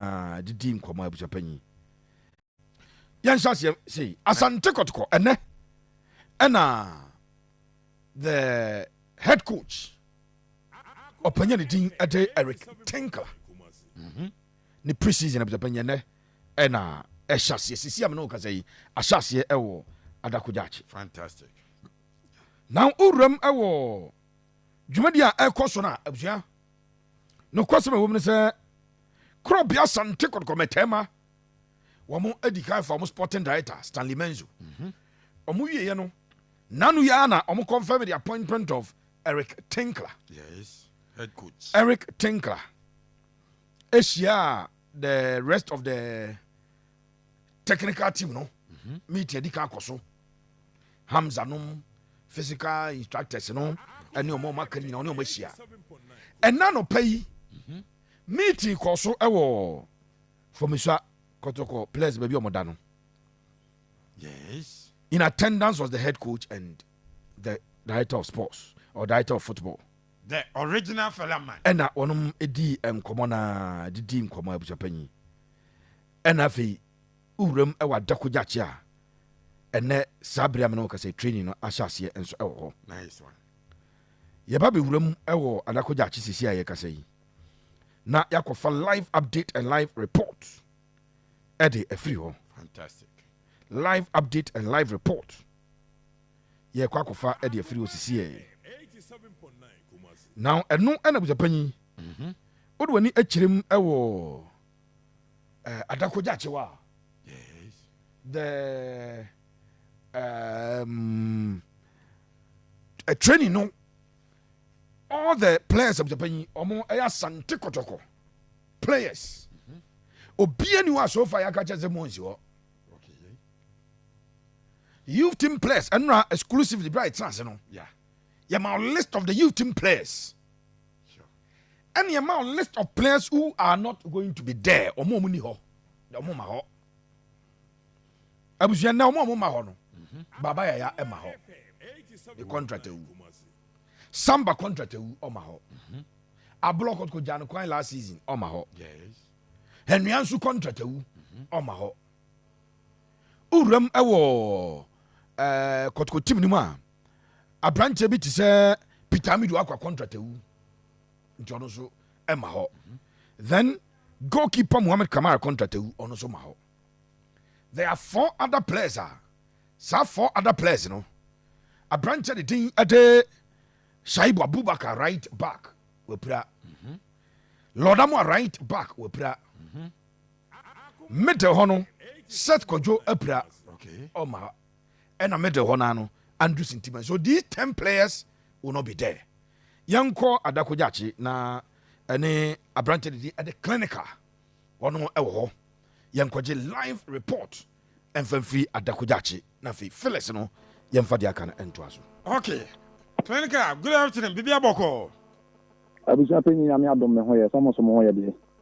Ah, de di nkɔmɔ abusuapanyin. Yɛnhyɛ aseɛ sei asante kɔtokɔ ɛnɛ ɛna the head coach ɔpanya ne din ɛde eric tinkler mhm. ne preseason abusuapanyin ɛnɛ ɛna ɛhyɛ aseɛ sisi amena ɔkasa yi ahyɛ aseɛ ɛwɔ adakogyakye fantastic na owuram ɛwɔ dwumadi a ɛkɔ so no a abusua Nokwasɛm a ɛwom ne sɛ, Korɔbea Asante Kɔtɔkɔ Mɛtɛɛma wɔn adi kan fa wɔn sporting director Stanley Menzo. Mhm. Wɔn wieɛ no, nano yi ara na wɔn confirm the appointment of Eric Tinkler. Yes, head coach. Eric Tinkler. Ahyia the rest of the technical team no mhm. meet adi kan akɔ so hamza nom physical instructors no ɛne ɔma ɔma ka nyina ɔne ɔma hyia ɛna nɔpa yi mhm. meeting kɔ so ɛwɔ fɔmisua kɔtɔkɔ players baabi ɔmɔda no yes in attendance was the head coach and the director of sports or director of football the original fella man ɛna wɔnom di nkɔmmɔ na didi nkɔmmɔ abusuapanyin Ɛna afei wo wuram wɔ adako gyakye a ɛnɛ saa bere a mene wo kasa training no ahyɛ aseɛ nso wɔ hɔ. Nice one. Yɛba bɛ wuram wɔ adako gyakye sisi a yɛkasa yi na yɛakɔfa live update and live report ɛde afiri hɔ. Fantastic. Live update and live report yɛkɔ akɔfa ɛde afiri hɔ sisi yɛ. Now ɛno ɛna busapanyin. Mm-hmm. Wode w'ani akyerem wɔ eh, adakogya kyewa yes. the um, uh, training no all the players of japan yi ɔmo ɛyɛ asante kɔtɔkɔ players mm-hmm. obiara ni hɔ a sofa yɛ akakyɛ sɛ mo nsi hɔ youth team players ɛnura exclusively bi a yɛ tena ase no yɛ ma list of the youth team players. ɛne ɛma wo list of players who are not going to be there ɔmo ɔmo ni hɔ na ɔmo ma hɔ abusua na ɔmo ɔmo ma hɔ no mhm. baba yaya ɛma hɔ ne contract awu samba contract awu ɔma hɔ mhm. abolɔ kɔtɔkɔ gya no kwan last season ɔma hɔ ɛnua nso contract awu mhm. ɔma hɔ owuram ɛwɔ ɛɛ kɔtɔkɔ team no mu a Aberanteɛ bi te sɛ Peter Amidu akɔ contract awu nti ɔno nso ɛma hɔ then goalkeeper Mohamed Kamara contract awu ɔno nso ma hɔ there are four other players a saa four other players no aberanteɛ de din ɛde Shaibu Abubakar right back wapira Lordamo right back wapira middle hɔ no Seth Kojo apira ɔma ɛna middle hɔ naa no Andrew Sintima so these ten players will not be there yɛnkɔ Adako Gyakye na ɛne aberanteɛ didi ɛde clinical wɔn ɛwɔ hɔ yɛnkɔgye live report ɛmfa mfiri Adako Gyakye na afei Phyllis no yɛmfa deɛ aka no ɛntoa so. Okay clinical good afternoon biribi abɔkɔɔ. Abusua panyin nyame adom me ho yɛ sɛ mo nso mo ho yɛ deɛ.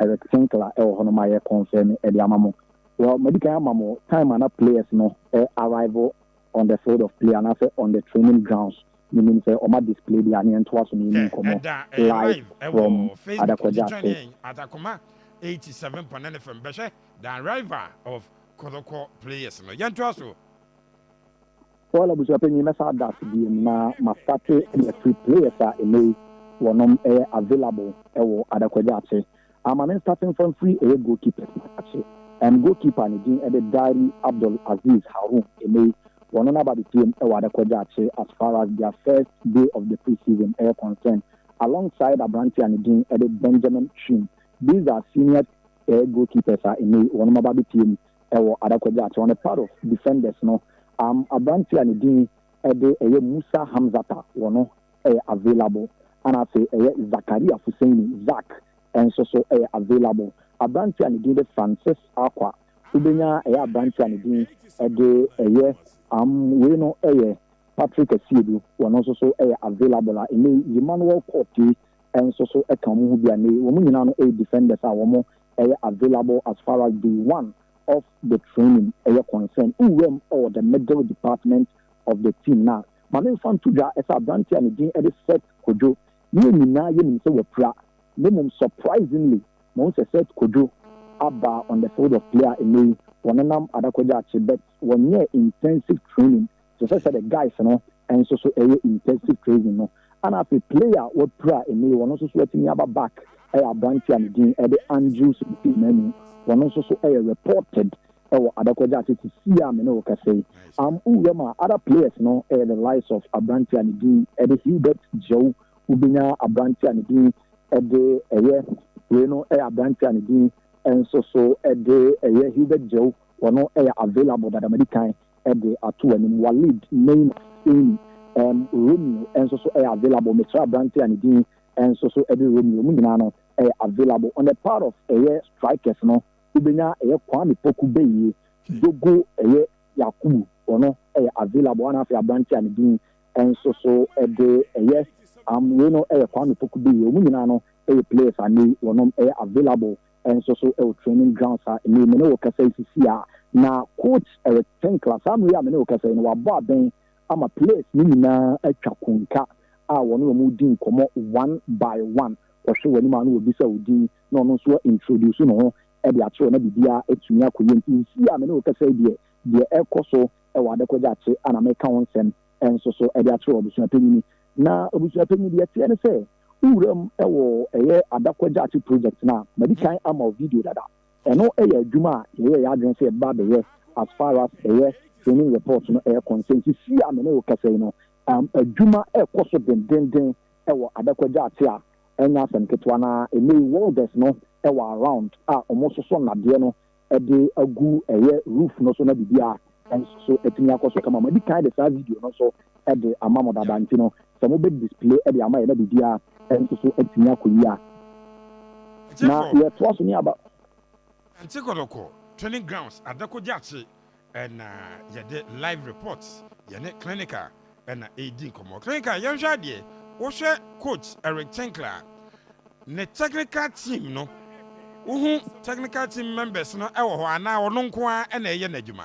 Eric Sinkler wɔ hɔ no ma yɛ confirm de ama mo. Well madi kan ama mo time a na players no arrive on the field of play anaasɛ on the training grounds. Menim sɛ wɔn a display deɛ a ne yɛntoa so na yɛnni nkɔmmɔ live from Adakwaja State. Atakoma eighty seven pɔ nine FM bɛhwɛ the arrival of Kotoko players no. Yɛntoa so. Foil abusuapanyin mɛsa das biom na ma starte yɛ free players a ɛnɛ yi wɔnom ɛyɛ available ɛwɔ Adakwagya akye a ma me nstarte nfa mfiri ɛyɛ goal keepers no akye and goal keeper ne din ɛde Diary Abdul Aziz Haroon ɛnɛ yi wɔno na aba abɛpiem ɛwɔ Adakwagya akye as far as their first day of the pre-season ɛyɛ concern along side abrante a ne din ɛde Benjamin Twim these are senior ɛyɛ goal keepers a ɛnɛ yi wɔnom aba abɛpiem wɔ adakɔgya akyɛ ɔne part of defenders no am abrante a ne din de ɛyɛ Musa Hamzata wɔ no yɛ available ɛna afei ɛyɛ Zakaria Fuseni, Zack, nso so yɛ available abrante a ne din de Francis Arquah wobɛnya ɛyɛ abrante a ne din de ɛyɛ am wei no yɛ Patrick Asiedu wɔ no nso so yɛ available a ɛnɛ yi Emmanuel Quartey nso so ka wɔn ho bi a ɛnɛ yi wɔn nyinaa no yɛ defenders a wɔn ɛyɛ available as far as day one of the training ɛyɛ concern. Wo wura mu wɔ the middle department of the team no a, ma me mfa nto dwa sɛ aberanteɛ a ne din de Seth Kodwo, yɛn nyinaa yɛnim sɛ wapira, na mmom surprisingly, mahu sɛ Seth Kodwo aba on the field of play a nnɛ yi wɔnenam Adakwa Gyaakye bet wɔnyɛɛ intensive training te sɛ sɛdeɛ guys no nso so ɛyɛ intensive training no. Ɛna afei player a wapira nnɛ yi, ɔno nso so atumi aba back yɛ aberanteɛ a ne din de Andrews Kofi Manu. Ɔno nso so yɛ reported wɔ Adakwaja ase sesie a me ne wo kasa yi. Am wowura mu a, other players no yɛ the likes of aberanteɛ a ne din de Hilbert Gyau, wobɛnya aberanteɛ a ne din de ɛyɛ wei no ɛyɛ aberanteɛ a ne din nso so de ɛyɛ Hilbert Gyau, Ɔno yɛ available dada madi kan de ato w'anim. Walid, Neymar, Amy, ɛɛm Romeo nso so yɛ available. Mesrɛ aberante a ne din nso so de Romeo, wɔn nyinaa no yɛ available. On the part of ɛyɛ strikers no, wobɛnya ɛyɛ Kwame Poku Beyie, Dogo ɛyɛ Yakubu ɔno yɛ available ana afei aberante a ne din nso so de ɛyɛ am wei no yɛ Kwame Poku Beyie. Wɔn nyinaa no yɛ players a nnɛ yi wɔnom yɛ available nso so wɔ training grounds a nnɛ yi me ne wo rekasa yi sisi a, na Coach Eric Tinkler, saa mmerɛ yi a me ne wo rekasa yi no, wabɔ abɛn ama players no nyinaa atwa konka a wɔne wɔn redi nkɔmmɔ one by one. Wɔhwɛ w'anim a na wɔbisa wo din na ɔno nso wa introduce ne ho de akyerɛ wo na biribiara atumi akɔ yie. Nti sisi a me ne wo rekasa yi deɛ, deɛ ɛrekɔ so wɔ Adekogya akye a na mereka ho nsɛm nso so de akyerɛ wo, Abusuapanyini Na abusuapanyin, deɛ ɛteɛ ne sɛ, wo wuram wɔ ɛyɛ adako agyaate project no a, madi kan ama wo video dada. Ɛno yɛ adwuma a yɛyɛɛ yɛn adwene sɛ yɛbɛba abɛyɛ as far as ɛyɛ training report no yɛ concern. Seesei a me ne wo kasa yi no, adwuma rekɔ so dendeenden wɔ adako agyaate a ɛnyɛ asɛm ketewa, na ɛnnɛ yi welders no wɔ around a wɔsoso nnadeɛ no de agu ɛyɛ roof no so na biribiara nso atumi akɔ so kama. Madi kan de saa video no nso de ama mo dada nti no sɛ mo bɛ display de ama yɛ na biribiara nso so atumi akɔ yie a na yɛtoa so ne aba. Nte Kɔtɔkɔ Training Grounds Adako Gyakye Ɛna yɛde live report yɛne clinic a ɛna ɛredi nkɔmmɔ. Clinic a yɛnhwɛ adeɛ, wohwɛ coach Eric Tinkler a, ne technical team no, wohu technical team members no wɔ hɔ anaa ɔno nko ara ɛna ɛyɛ n'adwuma?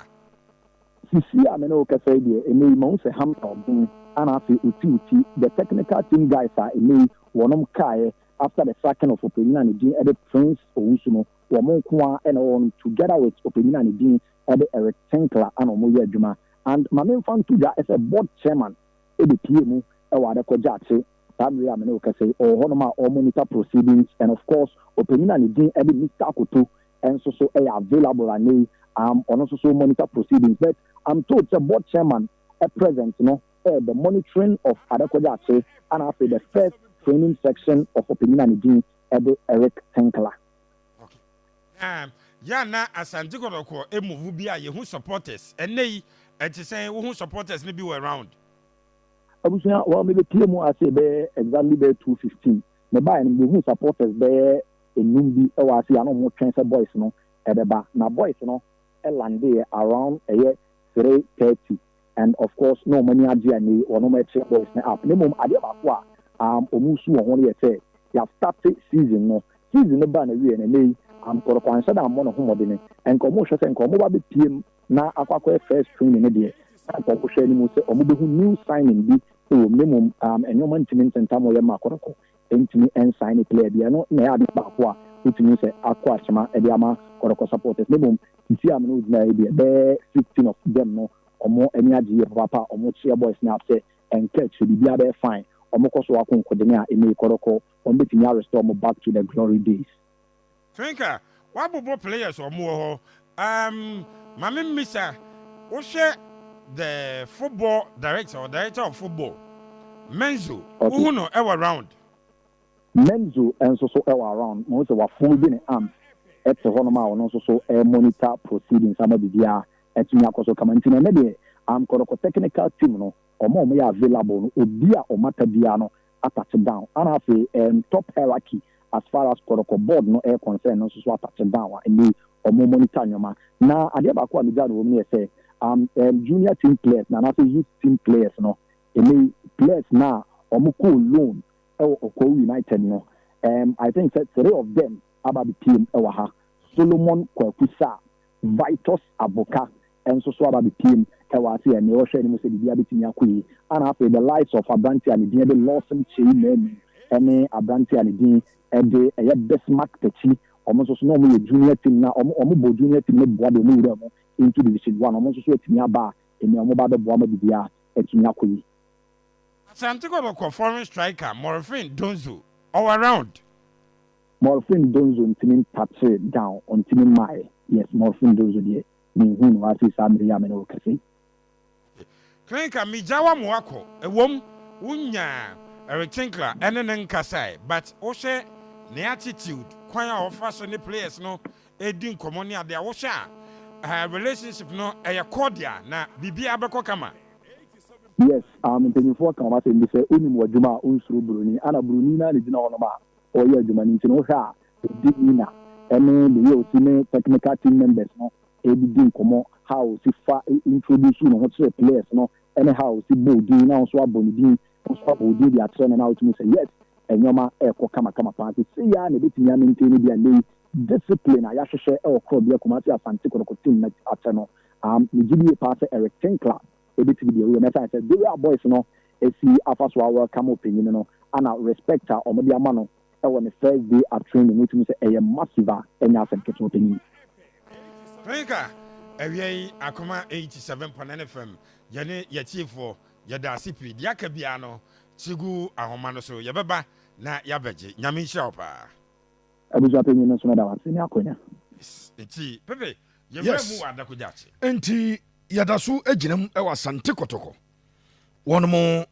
Sisi a me ne wo kasa yi deɛ, ɛnɛ yi mahu sɛ Hampton ɔben ana afei ɔti wo ti. The technical team guys a ɛnɛ yi wɔnom kaeɛ after the sacking of ɔpanyin a ne din de Prince Owusu no, Wɔn nko ara na wɔwɔ no together with ɔpanyin a ne din de Eric Tinkler a na wɔyɛ adwuma and ma memfa nto dwa sɛ board chairman bepue mu wɔ adekɔ gyakye saa bere yi a me ne wo kasa yi ɔwɔ hɔnom a ɔremonitor proceedings and of course ɔpanyin a ne din de Mister Akoto nso so yɛ available anɛ yi um ɔno nso so monitor proceedings but I'm told sɛ board chairman present no eh, the monitoring of adekɔ gyakye ana afei the first training section of ɔpanyin a ne din de Eric Tinkler. Okay. Um, yeah, na Asante Kotoko a move bi a yehu supporters. Ɛnɛ yi, ɛte sɛn wohu supporters no bi wɔ around? Abusua, wɔn mebɛpie mu ase bɛyɛ exactly bɛyɛ 2:15. Mebaeɛ no mehu supporters bɛyɛ enum bi wɔ ase a na wɔn twɛn sɛ boys no ɛbɛba. Na boys no landeeɛ around ɛyɛ 3:30. and of course na wɔn ani agye a nnɛ yi wɔn rekyerɛ boys no app no mmom adeɛ baako a um wɔn resu wɔ ho no yɛ sɛ yɛastate season no, season no baa n'awieɛ no nnɛ yi um Kɔrɔkɔ anhyɛ da ammɔ ne ho mmɔdene, nka wɔn rehwɛ sɛ nka wɔn ba bɛpue mu na akɔ akɔyɛ first training no deɛ na nka wɔhwɛ anim sɛ wɔbɛhu new signing bi wɔ mu na mmom um nneɛma ntumi ntentam wɔn yɛ mma Kɔrɔkɔ Entumi nsigne player biara. Ɛno na ɛyɛ ade baako a wotumi hu sɛ akɔ akyema de ama Kɔtɔkɔ supporters. Na mmom sisi a me ne wo gyinae yi deɛ, bɛyɛ sixteen of them no, wɔn ani agye yie papaapa a wɔkyeɛ boys no up sɛ ɛnka akyire, biribiara bɛyɛ fine. Wɔkɔ so ara konkodene a, ɛnne yi Kɔtɔkɔ, wɔbɛtumi a restore wɔn back to the glory days. Twinkle, W'abobo players wɔn wɔ hɔ um ma me mmisa wo hwɛ the football director or director of football Menzo wo hu no ɛwɔ around? Menzo nso so ɛwɔ around ma hu sɛ w'afono bi ne arms ɛte hɔ nom a ɔno nso so ɛɛ monitor proceedings ama biribiara atumi akɔ so kama nti no ɛnɛ deɛ um kɔdɔkɔ technical team no wɔn a wɔn yɛ available no obi a wɔn ata biara no atouch down ana afei ɛɛm top hierarchy as far as protocol board no ɛyɛ concern no nso so atouch down a ɛnde ɔmo monitor nnoɔma na adeɛ baako a megyae no wɔ mu no yɛ sɛ am ɛɛm junior team players no anaasɛ youth team players no ɛnɛ yi players no a ɔmo kɔɔ loan ɛwɔ Ɔkɔw United no ɛɛm I think sɛ three of them aba abɛpiem ɛwɔ ha Solomon Kwaku Sarr Vitus Aboka nso so aba bɛpueem wɔ ase a, nea ɔhwɛ anim sɛ biribiara bɛtumi akɔ yie, ɛna afei the likes of aberanteɛ a ne din de Lawson Kyei Manu ne aberanteɛ a ne din de ɛyɛ Bismark Takyi, wɔn nso so na wɔyɛ junior team no a, wɔn bɔ junior team no boa de wɔn wuraa mu into division one, wɔn nso so atumi aba a, nea wɔba abɛboa ama biribiara atumi akɔ yie. Asante Kɔbɔkɔ foreign striker Morfin Donzo, ɔwɔ round. Morphine Donzo ntumi ntouche down, ɔntumi mmaeɛ, yes, Morphine Donzo deɛ menhuu no hɔ afei saa mmerɛ yi a me ne wo rekasa yi. Klinka megya wo ama woakɔ, ɛwom wo nya Retinkla ne ne nkasaɛ but wohwɛ ne attitude, kwan a ɔfa so ne players no di nkɔmmɔ ne adeɛ a, wohwɛ a relationship no ɛyɛ cordial na biribiara bɛkɔ kama. Yes, um mpanyinfoɔ ka wɔn asɛm bi sɛ, onim w'adwuma a onsuro broni, ana broni no ara na ɛgyina hɔnom a ɔreyɛ adwuma no nti no wohwɛ a ɔdi Nina ne the way ɔsi ne technical team members no didi nkɔmmɔ, how ɔsi fa introduce ne ho kyerɛ players no ne how ɔsi bɔ odin na wo nso abɔ ne din, wo nso abɔ odin de akyerɛ no na wotumi hu sɛ yes nnoɔma rekɔ kamakama paa nti sei ara na ɛbɛtumi a maintain bi a lei discipline a yɛahwehwɛ wɔ Korɔbea Kumasi Asante Kotoko team no akyɛ no, aah megye die paa sɛ Eric Tinkler. Ebetumi deɛ woyɛ no ɛsan sɛ day a boys no si afa so a welcome ɔpanyin no ana respect a wɔn de ama no wɔ ne first day at training wotumi hu sɛ ɛyɛ massive a ɛnyɛ asɛm ketewa ɔpanyin. Rinka awia yi akoma eighty seven pɔ nine fm yɛne yɛtiefoɔ yɛda ase pii deɛ aka biara no kyi gu ahoma no so yɛbɛba na yɛabɛgye nyame nhyira wo paa. Abusua panyin no nso meda wo ase ne akwanya. Yes, nti yɛda so gyina mu wɔ Asante Kotoko, wɔnom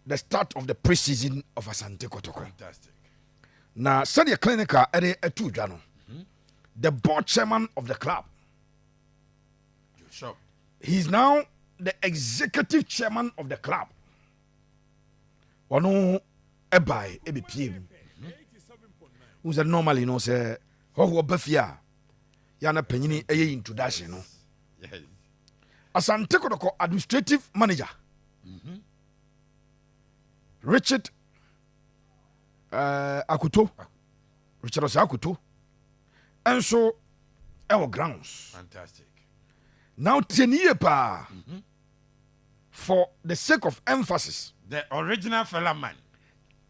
the start of the pre-season of Asante Kotoko. Na sɛdeɛ clinic a ɛde ɛto dwa no, the board chairman of the club, he is now the executive chairman of the club. ɔno ɛbae ɛbɛpie mu wo sɛ normally no sɛ hɔhoɔ ba fie a yɛ na panyini ɛyɛ introduction no asante kɔdɔkɔ administrative manager mhm. richard uh, akoto richard ɔsɛ akoto ɛnso ɛwɔ grounds Fantastic. na wotie ne yie paa mm -hmm. For the sake of emphasis. The original Fela man.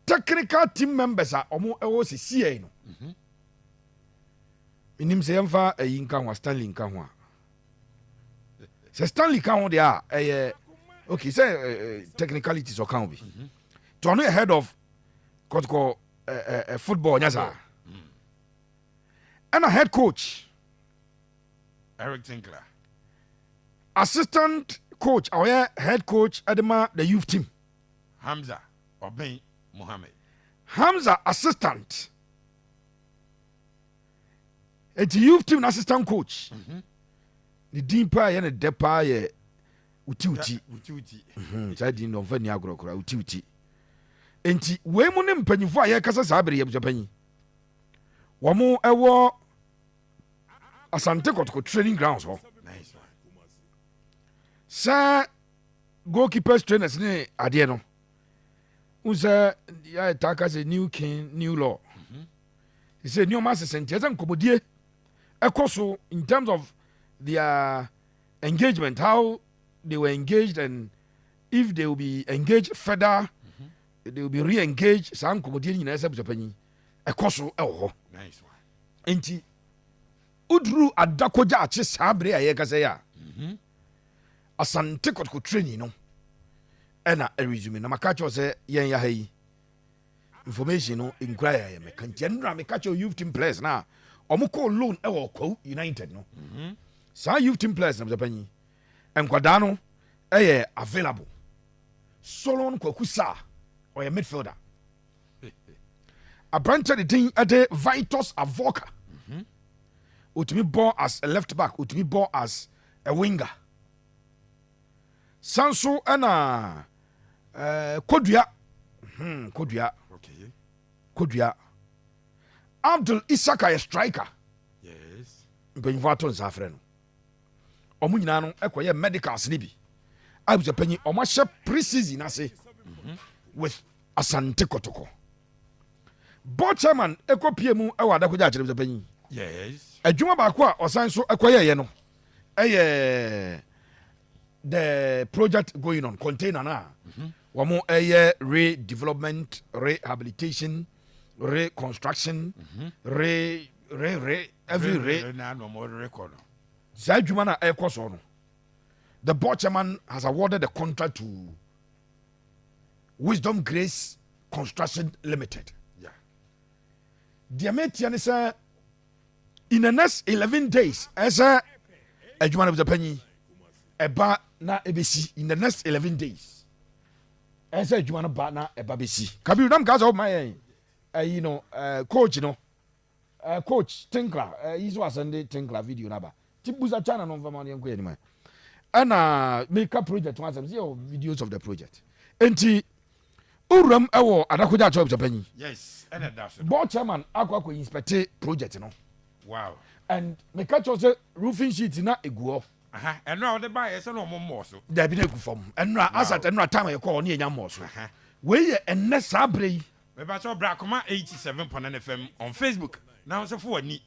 Technical team members a wɔn ɛwɔ sɛ CI no. Mhm. Menim sɛ yɛmfa ayi nka ho a Stanley nka ho a. Sɛ Stanley ka ho deɛ a ɛyɛ okay sɛ eh, eh, technicalities ɔka ho bi. Mhm. Nti ɔno yɛ head of kɔtokɔ eh, eh, eh, football nya saa. Mm. Ɛna head coach. Eric Tinkler, assistant coach a ɔyɛ head coach de ma the youth team. Hamza Obeng Mohammed. Hamza assistant eti youth team na assistant coach. Mm -hmm. Ne din paa yɛ ne dɛ paa yɛ wutiwuti. Wutiwuti. Mhm, saa din no ɔmfa ni agorɔ koraa wutiwuti. Enti wei mu ne mpanyinfo a yɛkasa saa bere yɛ abusuapanyin. Wɔn ɛwɔ asante kɔtɔkɔ training grounds hɔ sɛ goalkeepers trainers ne adeɛ no n sɛ yɛtaa ka sɛ new king new law mhm. sɛ nneɛma asesɛ nti ɛsɛ nkɔmmɔdie ɛkɔ so in terms of their engagement how they were engaged and if they will be engaged further mm -hmm. they will be re-engaged saa nkɔmmɔdie no nyinaa sɛ abusuapanyin ɛkɔ so wɔ hɔ. Enti woduru adako gyaakye saa bere a yɛkasa yi a, mhm. Asante Kotoko training no ɛna ɛresume na maka kyerɛw sɛ yɛn yɛ ha yi information no nkura yɛ yɛ mɛka nti ɛnura meka kyerɛw youth team players na wɔn kɔ loan ɛwɔ Kwawu United no mhm. saa youth team players na bɛsɛ panyin nkwadaa no ɛyɛ available Solon Kwaku Saa ɔyɛ midfielder. Aberanteɛ de din de Vitus Avoka. Ɔtumi bɔ as a left back, ɔtumi bɔ as a winger. San so ɛna eh, Kodua. Hmm, Kodua. Okay. Kodua. Abdul Isaka yɛ striker. Yes. Mpanyinfoɔ ato nsa afrɛ no. Wɔn nyinaa no kɔyɛ medicals no bi. Abusuapanyin, wɔn ahyɛ pre-season ase mhm. with Asante Kotoko. Board chairman kɔ pie mu wɔ adakogya akyerɛ abusuapanyin. Yes. Adwuma baako a ɔsan so kɔyɛɛyɛ no ɛyɛ the project going on container na mhm. wɔn ɛyɛ redevelopment rehabilitation reconstruction mhm. re re re every re re na nom rekɔ no saa adwuma no a ɛrekɔ so no the board chairman has awarded the contract to wisdom grace construction limited yeah. deɛ meteɛ ne sɛ in the next 11 days ɛsɛ adwuma no bɛpanyi ɛba na ɛbɛsi in the next 11 days ɛsɛ adwuma no ba na ɛba bɛsi kabiru nam kaa sɛ woma yɛn ayi no coach no Eh coach tinkler eh yi so asɛn de tinkler video no aba ti busa china no mfama no yɛnkɔ yɛnim ɛ ɛna meka project ho asɛm sɛ yɛwɔ videos of the project enti wowuram ɛwɔ adakogya akyɛw pɛpanyin yes ɛna da so board chairman akɔ akɔ inspect project no wow and meka kyɛw sɛ roofing sheet na eguɔ ɛno a wɔde baayɛ sɛ na ɔmo mmɔɔ so daabi na egu fam ɛno a asat ɛno a time yɛkɔɔ ne yɛnya mmɔɔ so wei yɛ ɛnnɛ saa berɛ yi Mepakyɛw bra koma eighty seven pɔn ne fam on Facebook na wo nso fa w'ani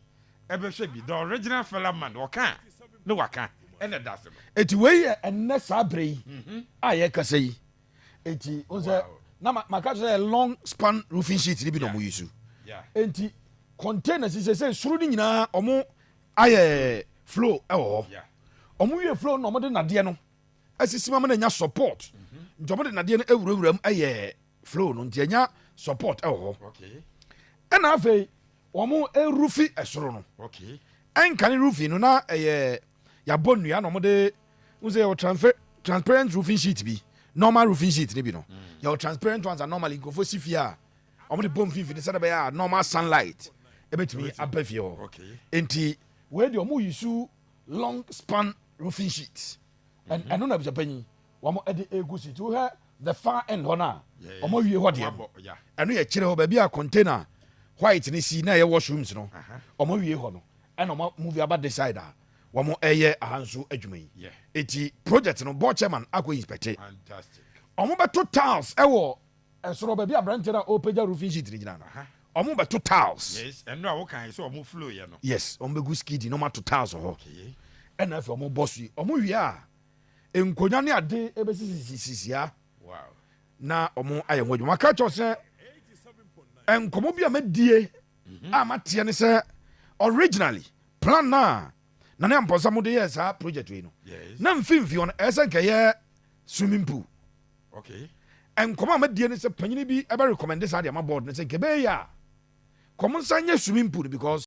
bɛhwɛ bi, the original fela man ɔka a na waka na ɛda ase no. Enti wei yɛ ɛnnɛ saa berɛ yi a yɛrekasa yi, enti wohu sɛ na maka kyerɛ sɛ ɛyɛ long span roofing sheet no bi na wɔn use, enti containers yi sɛsɛ soro no nyinaa wɔn ayɛ floor wɔ hɔ, wɔn wie floor no na wɔn de nnadeɛ no asisi ma ma no anya support nti ɔmo de nadeɛ no awurawura mu ɛyɛ flow no nti anya support ɛwɔ hɔ ɛna afei ɔmo erufi ɛsoro no ɛnka ne rufi no na ɛyɛ yabɔ nnua na ɔmo de n sɛ yɛwɔ transfer transparent roofing sheet bi normal roofing sheet ne bi no mm. yɛwɔ transparent ones a normally nkurɔfoɔ si fie a wɔn de bɔ mfimfini sɛdeɛ bɛyɛ a normal sunlight ɛbɛtumi aba fie hɔ nti wei deɛ wɔn yi su long span roofing sheet ɛn mhm. ɛno na abusua panyin wɔn ɛde egu so ti wohɛ the far end hɔ no a wɔn awie hɔ deɛ no ɛno yɛ kyerɛ hɔ baabi a container white ne si na ɛyɛ washrooms no wɔn awie hɔ no ɛna wɔn movie aba this side a wɔn ɛyɛ ahanso adwuma yi eti project no board chairman akɔ inspecte wɔn bɛto tiles ɛwɔ. Ɛsoro baabi a abranteɛ no a ɔrepagya roofing sheet no gyina no, wɔn bɛto tiles. Yes, ɛno a wokae sɛ wɔn flow yɛ no. Yes, wɔn bɛgu skiddy na wɔn ato tiles wɔ hɔ. Okay. Ɛna afei wɔn bɔ so yi, wɔn wie a, nkonnwa ne ade ɛbɛsisisisisia. Wow. Na wɔn ayɛ ho adwuma. Wɔaka kyɛw sɛ nkɔmɔ bi a madie mhm. a mateɛ ne sɛ originally plan no a na ne ampɔnsa mode yɛɛ saa project wei no na mfimfini hɔ no ɛyɛ sɛ nkɛyɛ swimming pool Okay. Nkɔmɔ a mɛdie ne sɛ panyini bi ɛbɛ recommende saa de ama board no sɛ nka ɛbɛyɛ yie a nka ɔmo nsan nyɛ swimming pool no because